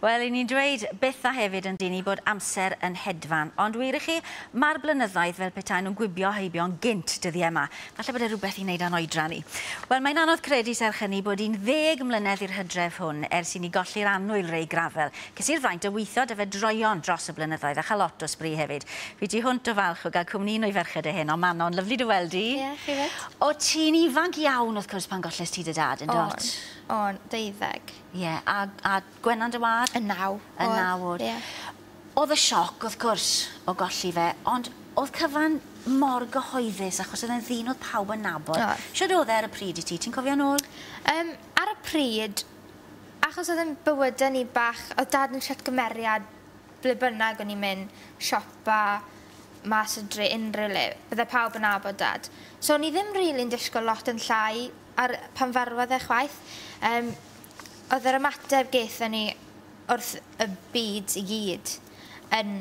Wel, 'yn ni'n dweud bytha hefyd yndyn ni bod amser yn hedfan. Ond wir i chi, mae'r blynyddoedd fel petaen nhw'n gwibio heibio'n gynt dyddie 'ma. Falle bod e rhywbeth i wneud â'n oedran ni. Wel, mae'n anodd credu serch hynny bod un ddeg mlynedd i'r hydref hwn ers i ni golli'r annwyl Ray Gravell. Ces i'r fraint o weithio 'da fe droeon dros y blynyddoedd a chael lot o sbri hefyd. Fi tu hwnt o falch o gael cwmni un o'i ferched e heno, Manon. Lyfli dy weld di. Ie, chi 'fyd. O, ti'n ifanc iawn wrth cwrs pan golles ti dy dad, yn dwt? O'n, o'n, deuddeg. Ie a a Gwenan dy wâd? Yn naw. Yn naw o'd. Ie. O'dd y sioc wrth gwrs o golli fe ond o'dd cyfan mor gyhoeddus achos o'dd e'n ddyn o'dd pawb yn nabod. Oedd. Shwd o'dd e ar y pryd i ti ti'n cofio nôl? Yym ar y pryd achos o'dd e'n bywyde ni bach o'dd dad yn shwt cymeriad ble bynnag o'n ni'n myn' siopa mas o dre unryw le bydde pawb yn nabod dad. So o'n i ddim rili'n dishgwl lot yn llai Ar pan farwodd e chwaith. Yym oedd yr ymateb gaethon ni wrth y byd i gyd yn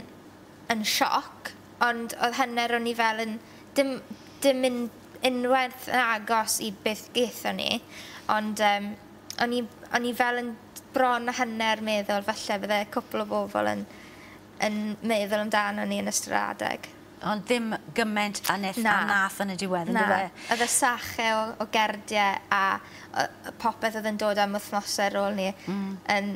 yn sioc ond oedd hanner o ni fel yn dim dim un- unwaith yn agos i beth gaethon ni ond yym o'n i o'n i fel yn bron a hanner meddwl falle bydde cwpwl o bobl yn yn meddwl amdanon ni yn ystod yr adeg. Ond ddim gyment a neth... Na. ...a nath yn y diwedd yndyfe? Na. Oedd y sachau o o gerdie a o- yy popeth oedd yn dod am wythnose ar ôl 'ny... Hmm. ...yn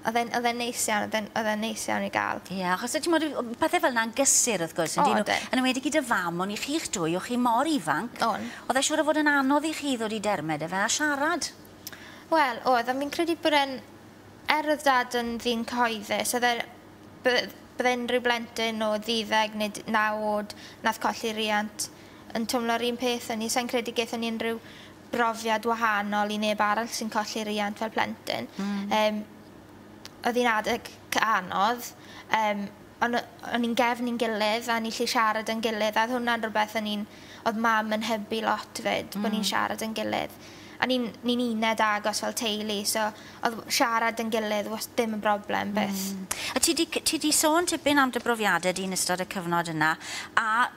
oedd e'n oedd e'n neis iawn oedd e'n oedd e'n neis iawn i ga'l. Ie achos o' t'mod o' o' pethe fel 'na'n gysur wrth gwrs on'd 'yn nw? O ydyn. Yn enwedig i dy fam on' i chi'ch dwy o' chi mor ifanc. O'n. O'dd e siŵr o fod yn anodd i chi ddod i derme 'dy fe a siarad. Wel oedd on' fi'n credu bod e'n er oedd dad yn ddyn cyhoeddus oedd e Bydd bydd unrhyw blentyn o ddeuddeg neu naw oed nath colli riant yn twmlo'r un peth â ni. Sai'n credu gethon ni unrhyw brofiad wahanol i neb arall sy'n colli riant fel plentyn. Yym oedd hi'n adeg cy- anodd yym on' o- o'n i'n gefn i'n gilydd a o'n ni gallu siarad 'da'n gilydd a odd hwnna'n rwbeth o'n i'n o'dd mam yn hybu lot 'fyd... Hmm. ...bo' ni'n siarad 'da'n gilydd. A ni'n ni'n uned agos fel teulu so odd siarad 'da'n gilydd was- ddim yn broblem byth. Mm. A ti 'di c- ti 'di sôn tipyn am dy brofiade di yn ystod y cyfnod yna a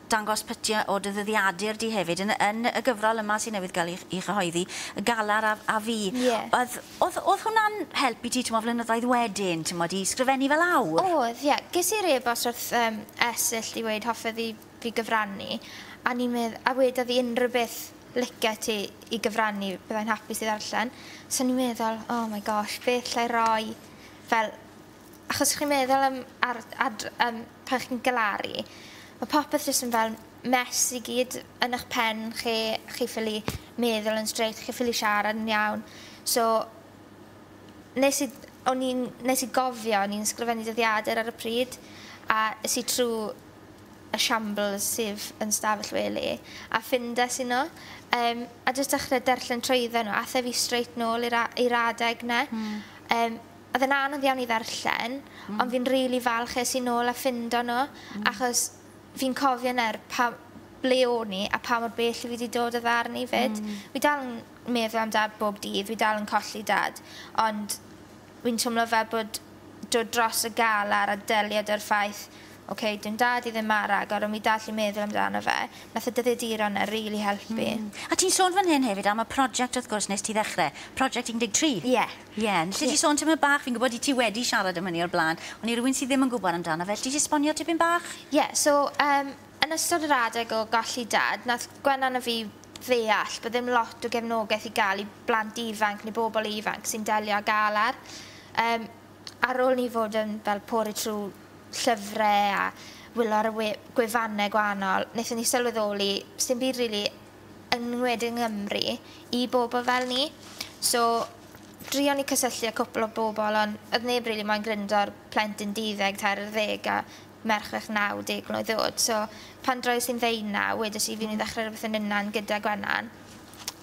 dangos pytie o dy ddyddiadur di hefyd yn y yn y gyfrol yma sy newydd ga'l 'i ch- 'i chyhoeddi, Y Galar a a Fi. Ie. Odd odd odd hwnna'n help i ti t'mo' flynyddoedd wedyn t'mod i sgrifennu fe lawr? Odd ie. Ges i'r e-bost wrth yym Esyll i weud hoffai fi fi gyfrannu a ni medd a weda fi unrhyw beth lice ti i gyfrannu byddai'n hapus i ddarllen so ni meddwl oh my gosh beth llai roi fel achos chi'n meddwl am ar ad yym pan chi'n galaru ma' popeth jyst yn fel mess i gyd yn ych pen chi chi ffili meddwl yn straight chi ffili siarad yn iawn so nes i o'n i'n nes i gofio o'n i'n sgrifennu dyddiadur ar y pryd a es i trw y shambles sydd yn stafell wely a ffindes i nhw yym a jyst dechre darllen trwyddo nhw ath e fi straight nôl i'r a- i'r adeg 'ne. Hmm. Yym o'dd e'n anodd iawn i ddarllen. Hmm. Ond fi'n rili falch es i nôl a ffindo nhw. Hmm. Achos fi'n cofio nawr pa- ble o'n i a pa mor bell fi 'di dod o ddarn i 'fyd. Hmm. Fi dal yn meddwl am dad bob dydd fi dal yn colli dad ond Fi'n twmlo fel bod dod dros y galar a delio 'da'r ffaith, ok, dyw 'yn dad i ddim mor agor ond fi dal 'llu meddwl amdano fe. Nath y dyddiaduron 'na rili helpu. Mm. A ti'n sôn fan hyn hefyd am y project wrth gwrs nes ti ddechre, project 13. Ie. Ie. Alli di sôn tipyn bach, fi'n gwbod i ti wedi siarad am hynny o'r blaen, ond i rywun sy ddim yn gwbod amdano fe, alli di esbonio tipyn bach? Ie, so, yym, yn ystod yr adeg o golli dad, nath Gwennan a fi ddeall bod ddim lot o gefnogaeth i gael i blant ifanc neu bobl ifanc sy'n delio â galar. Yym, ar ôl ni fod yn fel pori trwy llyfre a wylio ar y we gwefanne gwahanol, wnaethon ni sylweddoli sdim byd rili yng ngwed yng Nghymru i bobl fel ni. So, drion ni cysylltu â cwpl o bobl ond oedd neb rili moyn gryndo ar plentyn duddeg, tair ar ddeg a merched 90 mlwydd oed so pan droies i'n ddeunaw wedes i fi'n myn' i ddechre rwbeth yn unnan gyda Gwenan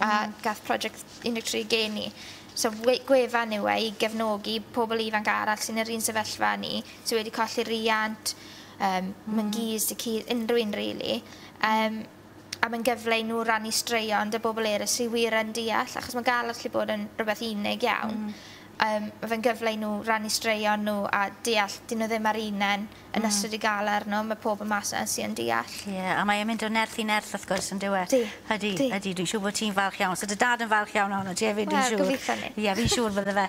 a gath project 13 gen i so we- gwefan yw e i gefnogi pobol ifanc arall sy'n yr un sefyllfa â ni sy wedi colli riant yym myn-gus tŷ cudd unryw un rili yym a mae'n gyfle i nhw rannu straeon 'da bobl eraill sydd wir yn deall, achos mae gael yn gallu bod yn rhywbeth unig iawn. Mm. Um, mae fe'n gyfle i nhw rannu straeon nhw a deall, dyn nhw ddim ar unen yn mm. ystod i gael arno, mae pobl mas yna sy'n deall. Ie, yeah, a mae'n mynd o nerth i nerth wrth gwrs yn dywe. Di. Ydy, di. ydy, dwi'n siŵr bod ti'n falch iawn. So dy dad yn falch iawn ohono ti hefyd, dwi'n siŵr. Wel, gobeithio ni. Ie, yeah, fi'n siŵr bydde fe.